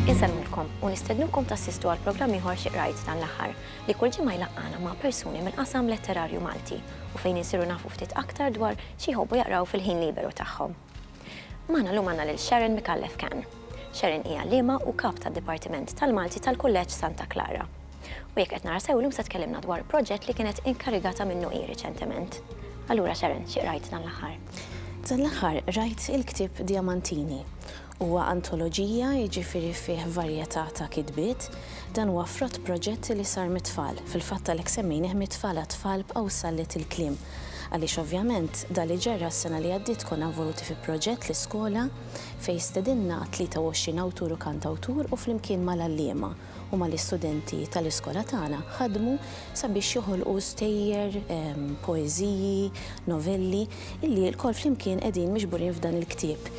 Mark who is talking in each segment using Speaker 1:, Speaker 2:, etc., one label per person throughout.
Speaker 1: Insemmilkom u nistednukom tassistu għal programm ieħor xi qrajt dan l-aħħar li kull ġimgħa jlaqqana ma' persuni mill-qasam letterarju Malti u fejn insiru nafu ftit aktar dwar xi jħobbu jaqraw fil-ħin liberu tagħhom. Magħna llum għandna lil Sharon Micallef Cann. Sharon hi għalliema u Kap tad-Dipartiment tal-Malti tal-Kulleġġ Santa Clara. U jekk qed nara sew illum se tkellimna dwar proġett li kienet inkarigata minnu hi riċentement. Allura Sharon, xi qrajt dan l-aħħar? Dan l-aħħar qrajt il-ktieb Diamantini. Huwa antoloġija, jiġifieri fih varjetà ta' kitbiet. Dan huwa frott proġett li sar mit-tfal, fil-fatt għalhekk semmejnih Mit-Tfal għat-Tfal b'Qawsallet il-Kliem. Għaliex ovvjament dan li ġara s-sena li għaddiet konna involuti fi proġett l-iskola fejn stedinna 23 awtur u kantawtur u flimkien mal-għalliema u mal-istudenti tal-iskola tagħna ħadmu sabiex joħolqu stejjer, poeżiji, novelli illi lkoll flimkien qegħdin miġburin f'dan il-ktieb.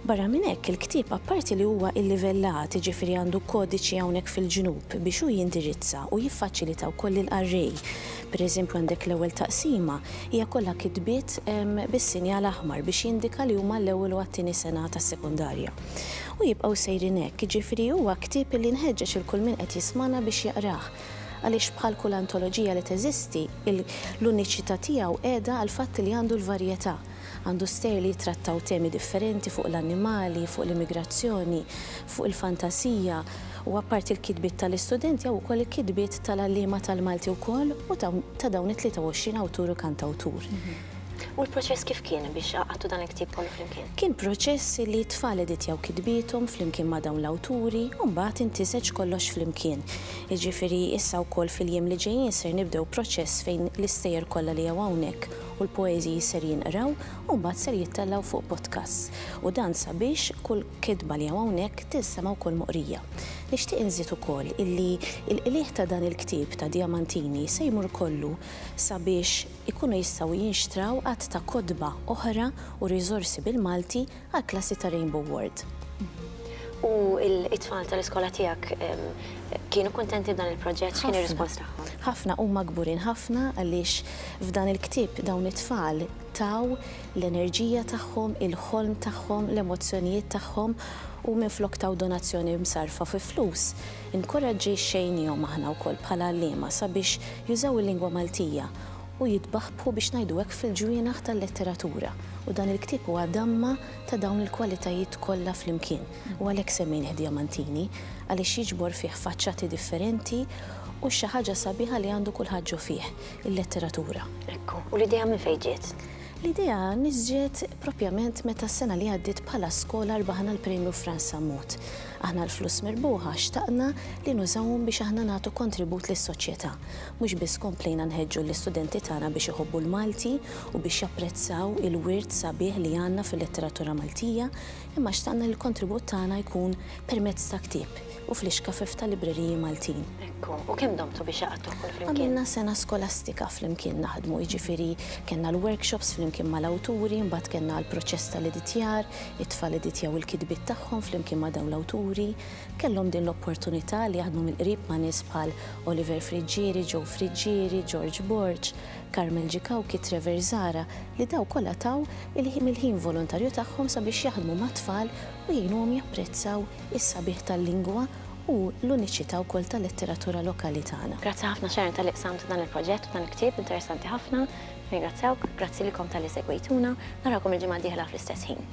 Speaker 1: Barra minn hekk, il-ktieb apparti li huwa illivellat, jiġifieri għandu kodiċi hawnhekk fil-ġnub biex hu jindirizza u jiffaċilita wkoll lill-qarrej. Pereżempju għandek l-ewwel taqsima hija kollha kitbiet bis-sinjal aħmar biex jindika li huma għall-ewwel u għat-tieni sena tas-sekondarja. U jibqgħu sejrin hekk, jiġifieri huwa ktieb li nħeġġeġ lil kull min qed jismagħna biex jaqrah għaliex bħal kull antoloġija li teżisti, l-uniċità tiegħu qiegħda għall-fatt li għandu l-varjetà. Għandu stejjer li jittrattaw temi differenti fuq l-annimali, fuq l-immigrazzjoni, fuq il-fantasija u apparti l-kitbiet tal-istudenti hawn ukoll il-kitbiet tal-għalliema tal-Malti wkoll u ta' dawn it-23 awtur u kantawtur. U l-proċess kif kien biex għaqadtu dan il-ktieb kollu flimkien? Kien proċess li t-tfal editjaw kitbiethom flimkien ma' dawn l-awturi u mbagħad intiseġ kollox flimkien. Jiġifieri issa wkoll fil-jiem li ġejjin ser nibdew proċess fejn l-istejjer kollha li hawn hawnhekk u l-poeżiji ser jinqraw u mbagħad ser jittellgħu fuq podcasts u dan sabiex kull kitba li hawn hawnhekk tinsema' wkoll moqrija. Nixtieq inżid ukoll illi l-qligħ ta' dan il-ktieb ta' Diamantini se jmur kollu sabiex ikunu jistgħu jinxtraw għadd ta' kotba oħra u riżorsi bil-Malti għall-klassi ta' Rainbow Ward. U t-tfal tal-iskola tiegħek kienu kuntenti b'dan il-proġett? X'kien ir-rispons tagħhom? Ħafna, huma kburin ħafna għaliex f'dan il-ktieb dawn it-tfal taw l-enerġija tagħhom, il-ħolm tagħhom, l-emozzjonijiet tagħhom u minflok taw donazzjoni msarrfa fi flus, inkuraġġixxejnihom aħna wkoll bħala għalliema sabiex jużaw il-lingwa Maltija. u jitbaħbħu biex ngħidu hekk fil-ġwienaħ tal-letteratura u dan il-ktieb huwa damma ta' dawn il-kwalitajiet kollha flimkien u għalhekk semmejnih Diamantini għaliex jiġbor fih faċċati differenti u xi ħaġa sabiħa li għandu kulħadd ġo fih, il-letteratura. Ekku, u l-idea minn fejn ġiet? L-idea niżġiet proprjament meta s-sena li għaddiet bħala skola rbaħna l-Premju Frans Sammut. Aħna l-flus mirbuħa xtaqna li nużawhom biex aħna nagħtu kontribut lis-soċjetà. Mhux biss komplejna nħeġġu l-istudenti tagħna biex iħobbu l-Malti u biex japprezzaw il-wirt sabiħ li għandna fil-letteratura Maltija, Imma xtaqna li l-kontribut tagħna jkun permezz ta' ktieb u fl-ixkafef tal-libreriji Maltin. Ekku, u kemm domtu biex għaqadtuh kulflimkien? Għamilna sena skolastika flimkien naħdmu, jiġifieri kellna l-workshops flimkien mal-awturi, imbagħad kellna l-proċess tal-editjar, it-tfal editjaw il-kitbiet tagħhom flimkien ma' dawn l-awturi. Kellhom din l-opportunità li jaħdmu mill-qrib ma' nies bħal Oliver Friggieri, Joe Friggieri, George Borg, Carmel G. Cauchi, Trevor Zahra, li dawn kollha taw mill-ħin volontarju tagħhom sabiex jaħdmu mat-tfal u jgħinuhom japprezzaw is-sabiħ tal-lingwa u l-uniċità wkoll tal-letteratura lokali tagħna. Grazzi ħafna Sharon talli qsamt dan il-proġett u dan il-ktieb interessanti ħafna. Nirringrazzjawk. Grazzi lilkom talli segwejtuna. Narawkom il-ġimgħa d-dieħla fl-istess ħin.